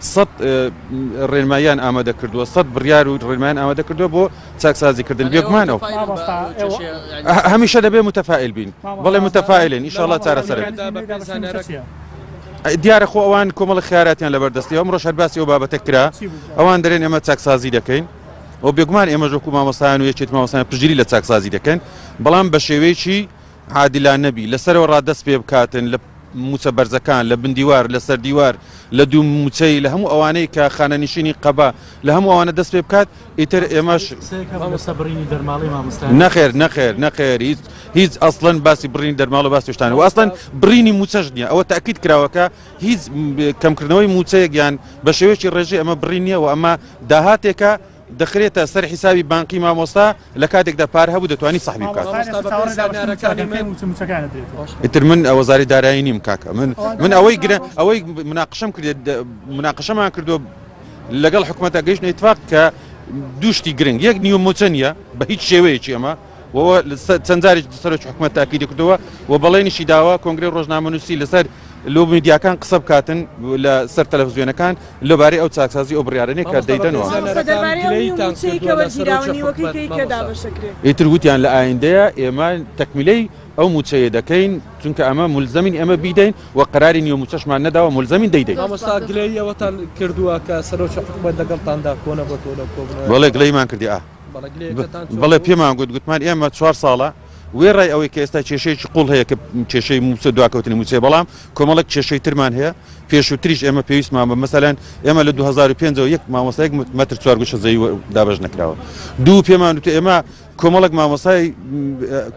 سەد ڕێنماییان ئامادە کردووە، سەد بڕیار و ڕێنماییان ئامادە کردووە بۆ چاکسازیکردن، بێگومان ئەو هەمیشە دەبێ متەفائیل بین، بەڵێ متەفائیلین ان شاءاللە چارەسەر ئەبێ. دیارە خۆ ئەوان کۆمەڵە خیاراتیان لەبەردەستە، ئەمڕۆش هەر باسی ئەو بابەتە کرا، ئەوان دەڵێن ئێمە چاکسازی دەکەین و بێگومان ئێمەش وەکوو مامۆستایان و یەکێتی مامۆستایان پشتگیری لە چاکسازی دەکەین، بەڵام بە شێوەیەکی عادلانە بی لە سەرەوە ڕا دەست پێ بکاتن لە موچە بەرزەکان لە بندیوار لە سەردیوار لە دوو موچەی لە هەموو ئەوانەی کە خانەنیشینی قەبا لە هەموو ئەوانە دەست پێ بکات ئیتر ئێمەش نەخێر نەخێر نەخێر هیچ هیچ ئەسڵەن باسی بڕین دەرماڵە باس شتان و ئەسڵەن بڕینی موچەش نیە ئەوە تاکیت کراوەکە هیچ کەمکردنەوەی موچەیەک یان بە شێوەیەکی ڕێژەی ئەمە بڕی نیە و ئەمە داهاتێکە دەخرێتە سەر حیسابی بانقی مامۆستا لەکاتێکدا پار هەبوو دەتوانی سەحبی بکات. مامۆستا بە پێی زانیارەکانی من ئیتر من وەزاری دارایی نیم کاکە من من ئەوەی گرە ئەوەی مناقشەم کردێت مناقشەمان کردو لەگەڵ حکومەتە گەیشتنە ئیتفاق کە دوو شتی گرنگ یەک نیوە موچە نیە بە هیچ شێوەیەکی ئەمە و چەند جارێک سەرۆکی حکومەت تاکیدی کردەوە و بەڵێنیشی داوە کۆنگری ڕۆژنامەنووسی لەسەر لۆ میدیاکان قسە بکاتن لە سەر تەلەڤزیۆنەکان لەبارەی ئەو چاکسازی ئەو بڕیارەنێ کە دەیدەنەوە ئیتر وتیان لە ئایندەیە ئێمە تەکمیلەی ئەو موچەیە دەکەین چونکە ئەمە ملزمین ئەمە بیدەین و قراری نیە موچەشمان نەداوە ملزمین دەیدەین گلەیەوەتان کردووە کە سەرۆکی حکومەت لەگەڵتاندا کۆنە بۆ تۆ لە کۆبڵێ گلەیمان کردی ئا بەڵێ پێمان گوت گوتمان ئێمە چوار ساڵە وێڕای ئەوەی کە ئێستا کێشەیەکی قوڵ هەیە کە کێشەی موچە دواکەوتنی موچێ بەڵام کۆمەڵک کێشەی ترمان هەیە پێشوتریش ئێمە پێویستمان بە مەسەلەن ئێمە لە 2005 یەک مامۆسایەک مەتر چوارگوشە زەوی دابش نکراوە دوو پێمان وتە ئێمە کۆمەڵک مامۆسای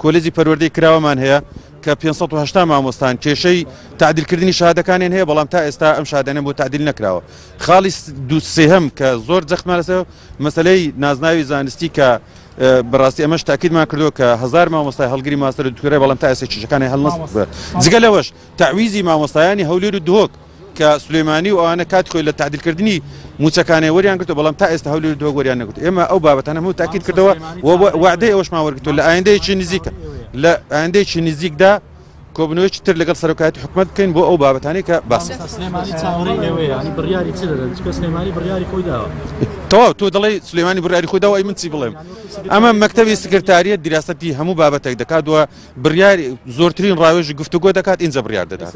کۆلێجی پەروەردەی کراوەمان هەیە کە 500 مامۆستان کێشەی تعدیلکردنی شادەکانیان هەیە بەڵام تا ئێستا ئەم شادەنە بۆ تعدیل نکراوە خاڵی دوسێهم کە زۆر جەخمارەسەوە مەسەلەی نازناوی زانستی کە بە ڕاستی ئەمەش تاکیدمان کردو کە هزار مامۆستای هەڵگری ماستەر و دکتۆرای بەڵام تا ئێستا کیشەکانی هەل نەسەندووە جگە لەوەش تەعویزی مامۆستایانی هەولێر و دهۆک کە سلێمانی و ئەوانە کات خۆی لە تعدیلکردنی موچەکانی وەریان گرتو بەڵام تا ئێستا هەولێر و دهۆک وەریان نەگرت ئێمە ئەو بابەتانە هەموو تاکید کردەوە و وەعدەی ئەوەشمان وەرگرتووە لە ئایندەیەکی نزیکە لە ئایندەیەکی نزیکدا کۆبوونەوەیەکی تر لەگەڵ سەرۆکایەتی حکومەت بکەین بۆ ئەو بابەتانەی کە باس تەواو تۆ دەڵی سلێمانی بڕیاری خۆی داوای من چی بڵێم ئەمە مەکتتەبی سکرتاریە دیراسەتی هەموو بابەتێک دەکات وە بڕیاری زۆرترین ڕاوێژی گفتوگۆ دەکات ئینجا بڕیار دەدات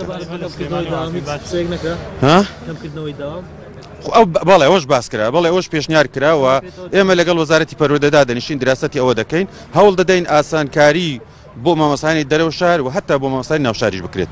بەڵێ ئەوش باس کرا بەڵێ ئەوش پێشنیار کراوە ئێمە لەگەڵ وەزارەتی پەرۆدەدا دەنیشین دراستتی ئەوە دەکەین هەوڵ دەدەین ئاسانکاری بۆ مامۆستایانی دەرەوە شار و هەتا بۆ مامۆستایانی ناوشاریش بکرێت.